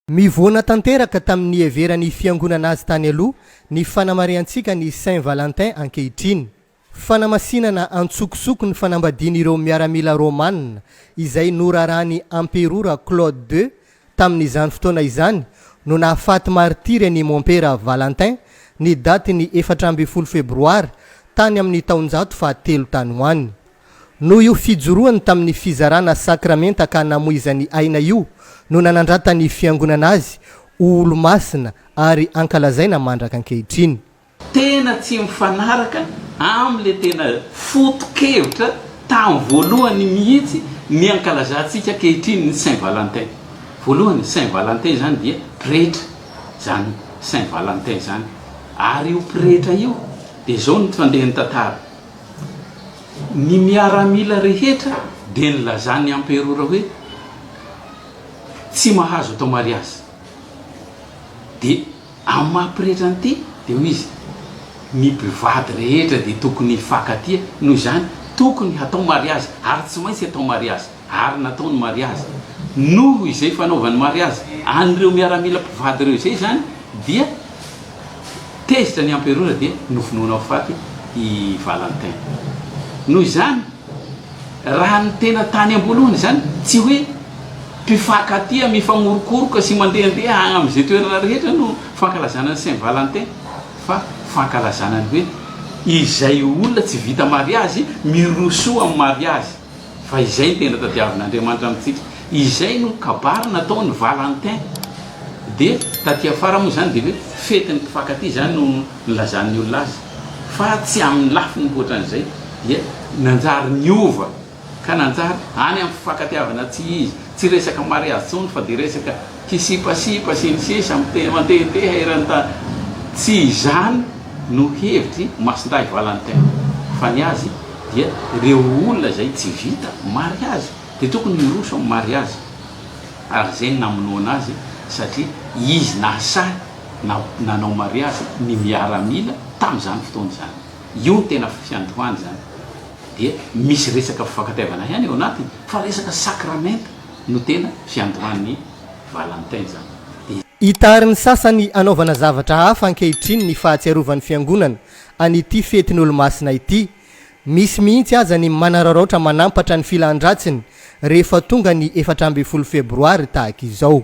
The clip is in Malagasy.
Mivoana tanteraka tamin'ny niheveran'ny Fiangonana azy tany aloha ny fanamarihantsika ny Saint Valentin ankehitriny. Fanamasinana an-tsokosoko ny fanambadian'ireo miaramila romanina izay noraràn'i Amperora Claude ii tamin'izany fotoana izany no nahafaty martiry an'i Mompera Valentin ny datin'ny efatra ambin'ny folo Febroary tany amin'ny taonjato fahatelo tany ho any. Noho io fijoroany tamin'ny fizarana sakramenta ka namoizany aina io no nanandratan'ny Fiangonana azy ho olo-masina ary ankalazaina mandraka ankehitriny. Tena tsy mifanaraka amin'ilay tena foto-kevitra tamin'ny voalohany mihitsy ny ankalazantsika ankehitriny ny Saint Valentin. Voalohany, Saint Valentin izany dia pretra izany Saint Valentin izany, ary io pretra io dia izao no fandehan'ny tantara. Ny miaramila rehetra dia nilazan'ny emperora hoe tsy mahazo atao mariazy. Dia amin'ny maha pretra an'ity dia hoy izy, ny mpivady rehetra dia tokony hifankatia, noho izany tokony hatao mariazy ary tsy maintsy atao mariazy. ary natao ny mariazy. Noho izay fanaovany mariazy an'ireo miaramila mpivady ireo izay izany dia tezitra ny emperora dia novonoina ho faty i Valentin. Noho izany, raha ny tena tany am-boalohany izany, tsy hoe mpifankatia, mifanorokoroka sy mandehandeha any amin'izay toerana rehetra no fankalazana ny Saint Valentin fa fankalazana ny hoe izay olona tsy vita mariazy mirosoa amin'ny mariazy. Fa izay ny tena tadiavin'Andriamanitra amintsika. Izay no kabary natao ny Valentin. Dia taty afara moa izany dia hoe fetin'ny mpifankatia izany no nilazan'ny olona azy. Fa tsy amin'ny lafiny hoatran'izay dia nanjary niova ka nanjary any amin'ny fifankatiavana tsy izy. Tsy resaka mariazy intsony fa dia resaka Hisipasipa sy ny sisa mandehandeha eran'ny tany. Tsy izany no hevitry Masindahy Valentin fa ny azy dia ireo olona izay tsy vita mariazy dia tokony hiroso amin'ny mariazy ary izay no namonoana azy satria izy nahasahy nanao mariazy ny miaramila tamin'izany fotoana izany. Io no tena fiandohany izany dia misy resaka fifankatiavana ihany eo anatiny fa resaka sakramenta. No tena fiandohan'ny Valentin izany. Dia. Itarin'ny sasany hanaovana zavatra hafa ankehitriny ny fahatsiarovan'ny Fiangonana an'ity fetin'Olomasina ity. Misy mihitsy aza ny manararaotra manampatra ny filan-dratsiny rehefa tonga ny efatra ambin'ny folo febroary tahaka izao.